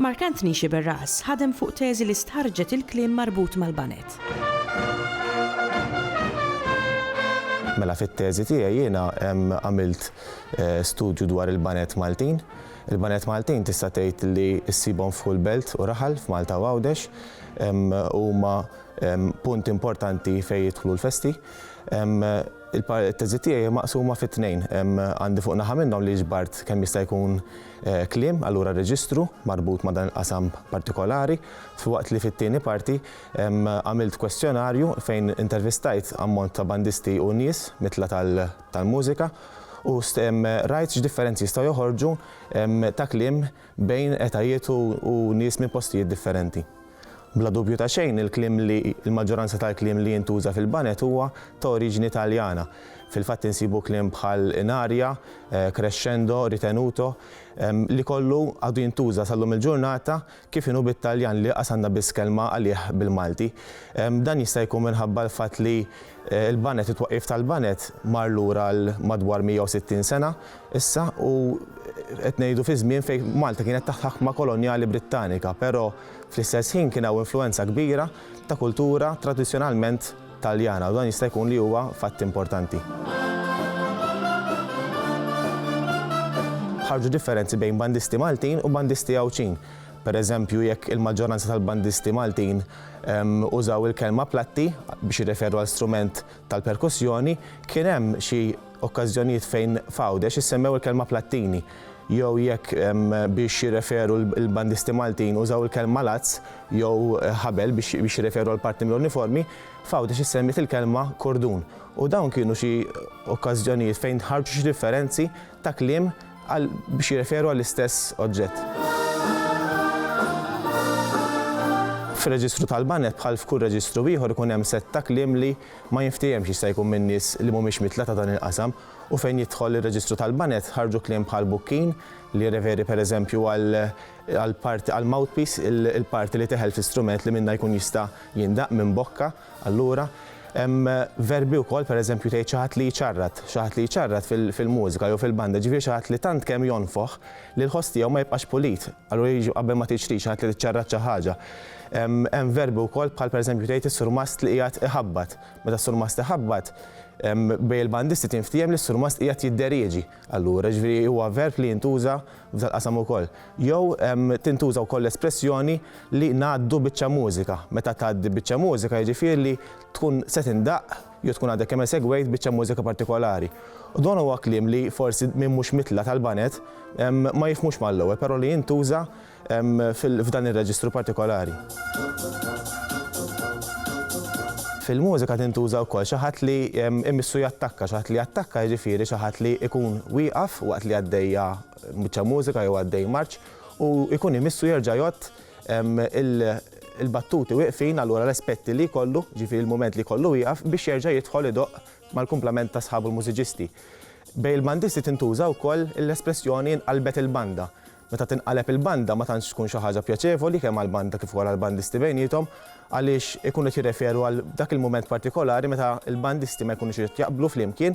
Mark Anthony Sciberras ħadem fuq teżi li stħarrġet il-kliem marbut mal-baned. Mela fit-teżi tiegħi jiena għamilt eh, studju dwar il-banet Maltin. Il-banet Maltin tista' tgħid li ssibhom full belt u raħal f'Malta u Għawdex huma punt importanti fejn jidħlu l-festi. Il-teżi tiegħi maqsuma fit-tnejn. Għandi fuq naħa minnhom li ġbart kemm jista' jkun Kliem, allura reġistru marbut ma' dan il-qasam partikolari, filwaqt li fit-tieni parti għamilt kwestjonarju fejn intervistajt ammont ta' bandisti u nies mitla tal-mużika u rajt x'differenzi jistgħu joħorġu ta' kliem bejn etajiet u nies minn postijiet differenti. Bla dubju ta' xejn, il-kliem li, il-maġġoranza tal-kliem li jintuża fil-Baned huwa ta' oriġini Taljana. Fil-fatt insibu kliem bħal in aria, crescendo, ritenuto, li kollu għadu jintuża sal-lum il-ġurnata, kif inhu bit-Taljan li laqas għandna biss kelma għalih bil-Malti. Dan jista' jkun minħabba l-fatt li l-Baned, it-twaqqif tal-Baned mar lura għal madwar 160 sena, Issa, u qed ngħidu fi żmien fejn Malta kienet taħt ħakma kolonjali Brittanika, però fl-istess ħin kien hawn influwenza kbira ta' kultura tradizzjonalment Taljana u dan jista' jkun li huwa fatt importanti. Ħarġu differenzi bejn bandisti Maltin u bandisti Għawdxin. Per eżempju, jekk il-maġġoranza tal-bandisti Maltin ehm, użaw il-kelma platti biex jirreferu għal strument tal-perkussjoni, kien hemm xi okkażjonijiet fejn f'Għawdex issemmew il-kelma Plattini jew jekk biex jirreferu l-bandisti Maltin użaw il-kelma lazz jew ħabel biex jirreferu għal parti mill-uniformi, f'Għawdex issemmiet il-kelma kurdun u dawn kienu xi okkażjonijiet fejn ħarġu xi differenzi ta' kliem biex jirreferu għall-istess oġġett. Fir-reġistru tal-baned bħal f'kull reġistru ieħor ikun hemm sett ta' kliem li Ma jinftiehemx x'jista' jkun min-nies li mhumiex mitla ta' dan il-qasam u fejn jidħol ir-reġistru tal-banet ħarġu kliem bħal bukkin, li jirreferi pereżempju għal parti għal mouthpiece, il-parti li teħel fi strument li minnha jkun jista' jindaqq minn bokka, allura. Hemm verbi wkoll pereżempju tgħid xi ħadd li jċarrat, xi ħadd li jċarrat fil-mużika jew fil-banda, jiġifieri xi ħadd li tant kemm jonfoħ li l-ħoss tiegħu ma jibqax pulit. Allura jiġu qabel ma tiġri xi ħadd li ċċarrat xi ħaġa. Hemm verbi wkoll bħal pereżempju tgħid is-surmast li qiegħed iħabbat. Meta s-surmast iħabbat, bejn il-bandisti tinftiehem li s-surmast qiegħed jidderieġi. Allura, ġifieri huwa verb li jintuża f'dal-qasam ukoll. Jew tintuża wkoll l-espressjoni li ngħaddu biċċa mużika. Meta tgħaddi biċċa mużika jiġifieri li tkun se tindaqq. jew tkun għadek kemm esegwejt biċċa mużika partikolari. U dan huwa kliem li forsi min mhux mitla' tal-baned ma jifhmux mal-ewwel, però li jintuża f'dan ir-reġistru partikolari. Fil-mużika tintuża wkoll xi ħadd li imissu jattakka, xi ħadd li jattakka jiġifieri xi ħadd li jkun wieqaf waqt li għaddejja biċċa mużika jew għaddej marċ u jkun imissu jerġa' jgħodd il- il-battuti wieqfin allura l-aspetti li jkollu, ġifieri l-mument li jkollu wieqaf biex jerġa' jidħol idoqq mal-kumplament ta' sħabu l-mużiċisti. Bejn il-bandisti tintuża wkoll l-espressjoni nqalbet il-banda. Meta tinqaleb il-banda ma tantx tkun xi ħaġa pjaċevoli kemm għall-banda kif ukoll għall-bandisti bejniethom għaliex ikunu qed jirreferu għal dak il-mument partikolari meta l-bandisti ma jkunux qed jaqblu flimkien